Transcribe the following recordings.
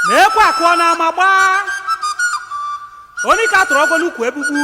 na ekwe akụọ n'ama gbaa onye ka tụrụ ọgọ n'ukwu egbugbu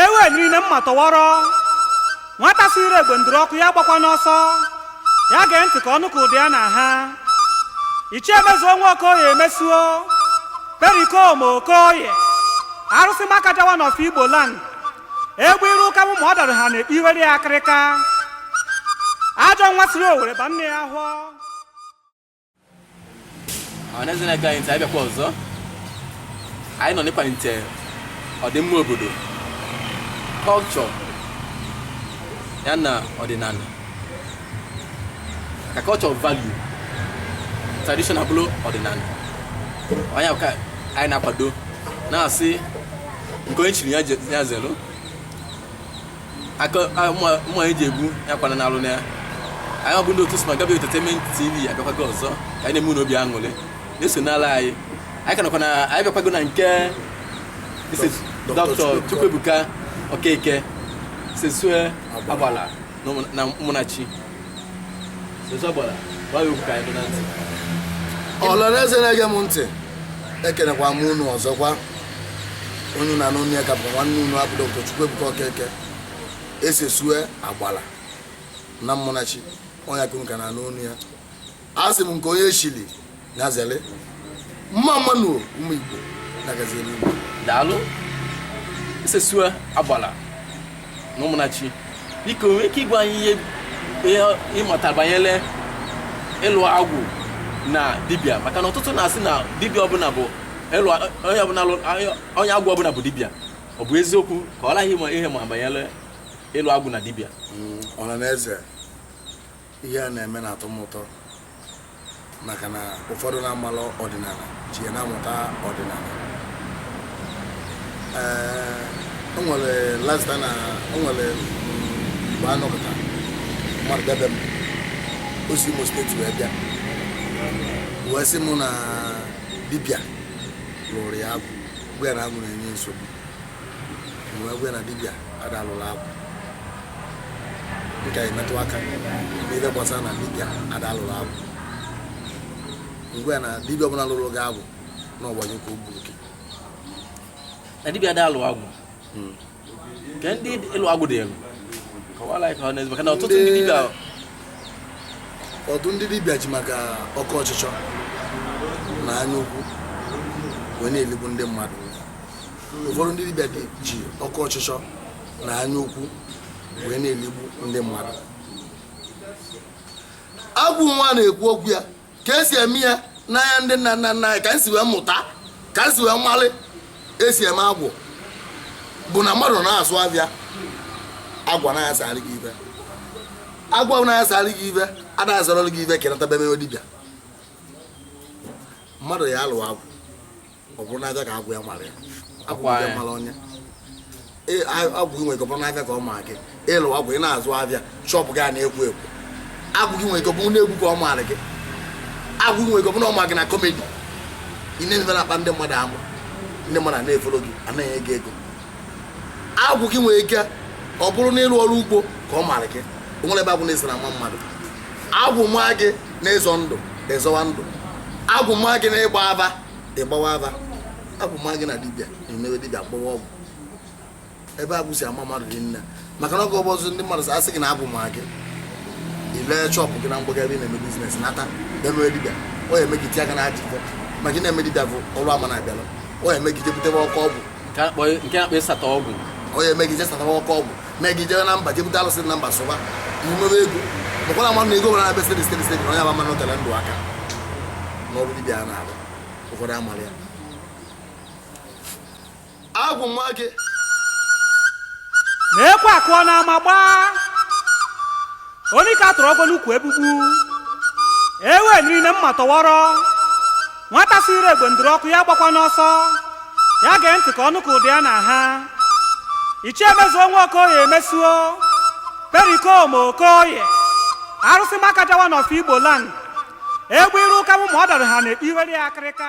ewe niile mma tọwọrọ nwata si ire egbe ndụrụ ọkụ ya gbakwa n'ọsọ ya gee ntị ka ọ nụ ka ụda ya na-aha ichie mezuo nwa okoye mesuo perikoma okoye arụsị makaja one of igbo land egbe iru ụka bụ ma ọ dara ha na iwere ya akịrịka ajọ nwa siri owere ba nne ya ahọ ọhaneze na-ege anyị ntị anyị bịakwa ọzọ anyị nọ n'ịkwalite ọdịmma obodo culture ya na ọdịnala ka culture value traditional bụrụ ọdịnala ọ nya ka anyị na-akwado na-asị nke onye chiri ya je- ya zelu aka a- mma- mma anyị ji egbu ya kwana n'alụ na ya anyị bụ ndị otu sma gabi entertainment tv abịakwago ọzọ ka anyị na-eme unu obi aṅụrị na-eso n'ala anyị anyị ka nọkwa na anyị bịakwago na nke isi Dr. dọkịta chukwuebuka okeke sesue agbala na ụmụnachi ọranaeze na-ege m ntị ekenekwa m unu ọzọkwa onye unu na-anụ onu ya ka bụ nwanne unu a bụ Dr. Chukwuebuka Okeke esesue agbala na ụmụnachi ọ nya ka unu ka na-anụ onu ya a sị m nke onye chili nya zere mma mma nụ ụmụ igbo na gazi eluigwe daalụ isesue agbala na ụmụnachi biko i nwee ike ịgwa anyị ihe ihe ị mata banyere ịlụ agwụ na dibịa maka na ọtụtụ na-asị na dibịa ọbụla bụ ịlụ onye ọbụla lụ- onye- onye agwụ ọbụla bụ dibịa ọ bụ eziokwu kọọlụ anyị ịma ihe ị ma banyere ịlụ agwụ na dibịa ọha na eze ihe a na-eme na-atọ m ụtọ maka na ụfọdụ na-amarọ ọdịnala ji ya na-amụta ọdịnala ee o nwere last time o nwere mgbe a nọpụta mmadụ bịa be m o si imo state wee bịa wee sị m na dibịa lụrụ ya agwụ gwa ya na agwụ na-enye nsogbu wee gwa ya na dibịa ada alụrụ agwụ nke emetụ aka n'ihe gbasara na dibịa ada alụrụ agwụ m gwa ya na dibịa ọbụla lụrụ gị agwụ na ọgbanye ka o gburu gị na dibịa ada alụ agwụ hmm. nke ndị ịlụ agwụ dịịlụ kọwaara anyị ọha na eze maka na ọtụtụ ndị dibịa ụfọdụ ndị dibịa ji maka oke ọchịchọ na anya ukwu wee na-eligbu ndị mmadụ ụfọdụ ndị dibịa ji oke ọchịchọ na anya ukwu wee na-eligbu ndị mmadụ agwụ nwa na-ekwu okwu ya ka esi eme ya n'anya ndị nna nna nna anyị ka m si wee mụta ka m si wee malị esi eme agwụ bụ na mmadụ na-azụ afịa agwụ na-asarị gị ife agwụ na-asarị gị ife ada azụrụ gị ife ka ị nata mebe dibịa mmadụ ya alụ agwụ ọ bụrụ n'afịa ka agwụ ya mara ya agwụ Ọkwa ya ya. mara onye Ee, a- agwụ gị nwere ike ọ bụrụ n'afịa ka ọ ma gị ị lụ agwụ ị na-azụ afịa shọpụ gị a na-ekwo ekwo agwụ gị nwere ike ọ bụrụ n'egwu ka ọ maara gị agwụ gị nwere ike ọ bụrụ na ọ ma gị na kọmedi ị na-eme ife na-akpa ndị mmadụ amụ ndị mmadụ a na-efolo gị anaghị ego ego agwụ gị nwere ike ọ bụrụ n'ịrụ ọrụ ugbo ka ọ maara gị o nwere ebe agwụ na-esi na-ama mmadụ agwụ maa gị n'ịzọ ndụ ị zọwa ndụ agwụ maa gị n'ịgba afa ị gbawa afa agwụ maa gị na dibịa ị mewe dibịa gbawa ọgwụ ebe agwụ si ama mmadụ dị nne maka na oge ụfọdụ ndị mmadụ asị gị na agwụ ma gị ị lee shọpụ gị na Mgbuka ebe ị na-eme biznes nata mewe dibịa ọ ya eme gị tinye aka na ajọ ife maka ị na-eme dibịa bụ ọrụ ama na-abịala ọ ya eme gị jee butebe oke ọgwụ nke a na-akpọ ịsata ọgwụ ọ ya eme gị jee satawa oke ọgwụ mee gị jebe na mba jee bute alụsị na mba sụba imebe ego bụkwara mmadụ na ego nwere abịa stedi stedi stedi na onye aba mmanụ tere ndụ aka n'ọrụ dibịa a na-arụ ụfọdụ amara ya agwụ maa gị na ekwe akụọ na ama gbaa onye ka a tụrụ ọgwụ n'ukwu egbugbu ewe niile mma tọwọrọ nwata sịrị egbe ndụrụ ọkụ ya gbakwa n'ọsọ ya gee ntị ka ọ nụ ka ụda ya na-aha ichie mezuo nwa okoye mezuo perikomo okoye arụsị makaja wa n'ọfọ igbo land egbe iru ụka mụ ma ọ dara ha na-ekpe iwere ya akịrịka